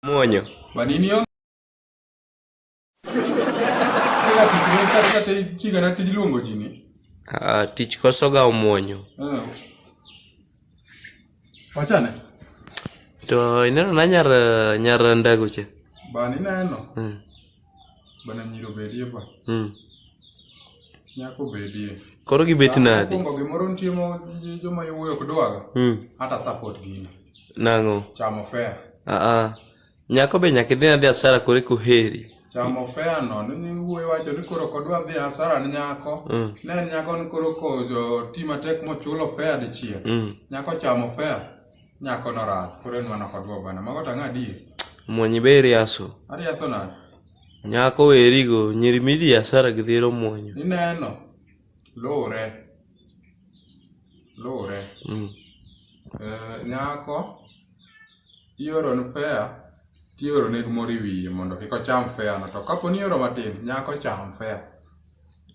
Muonyo. Kwa nini hiyo? Kila tich ni sasa sasa chiga na tich luongo jini. Ah, tich kosoga omuonyo. Eh. Wachane. To ineno na nyar nyar ndago che. Ba ni neno. Mm. Bana nyiro bedie ba. Mm. Nyako bedie. Koro gibet nadi? Kongo gimoro nitie mo joma iwuoyo ok dwaga. Mm. Hata support gini. Nango. Chamo fair. Ah ah. Nyako be nyaka idhi adhi asara kore kuheri. Chamo fair no ni wuoyo wacho ni koro kodwa dhi asara ni nyako. Mm. Ne nyako ni koro ko jo tima tek mochulo fair dichiel. Mm. Nyako chamo fair. Nyako no rach, koro en mana kod babana. Mago tanga adier. Mwonyi be iriaso. Ariaso nade? Nyako werigo, nyiri midi asara gi dhero mwonyo. Ineno. Lure. Lure. Mm. Eh, nyako ioro ne fea tioro ne gimoro e wiye mondo kik ocham fea no to kapo ni ioro matin nyako cham fea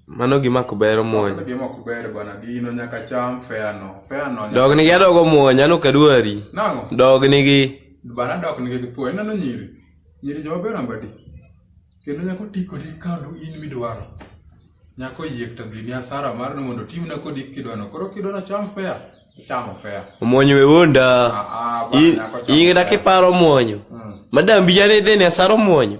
Mano gima ok ber omuony. Mano gima ok ber bana gino nyaka cham feyano. Feyano. Dog nigi adog omuony ano kadwari. Nango. Dog nigi. Bana dog nigi gipo ineno nyiri. Nyiri joma ber ambadi. Kendo nyako ti kodi ka in midwaro. Nyako yiek to gini asara mar ni mondo timna kodi kidwano. Koro kidwano cham feya. Chamo feya. Omuonyo we wonda. Ah, ah, bana nyako chamo. Ingida kiparo omuonyo. Mm. Madam bijane dheni asara omuonyo.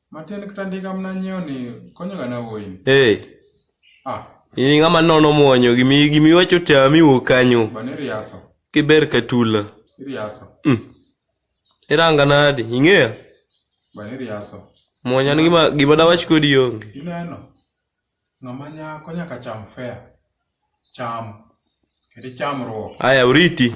Matin kata ndiga mna nyiewo ni konyoga na wuoyi. Hey. Ah. Ini ng'ama nono mwonyo gimi gimi wacho tami wo kanyo. Bane riaso. Kiber katula. Riaso. Mm. Iranga nadi ing'eya? Bane riaso. Mwonyo ni gima gima dawach kodi onge. Ineno. Ng'ama nyako nyaka cham fair. Cham. Kedi cham ruo. Aya uriti.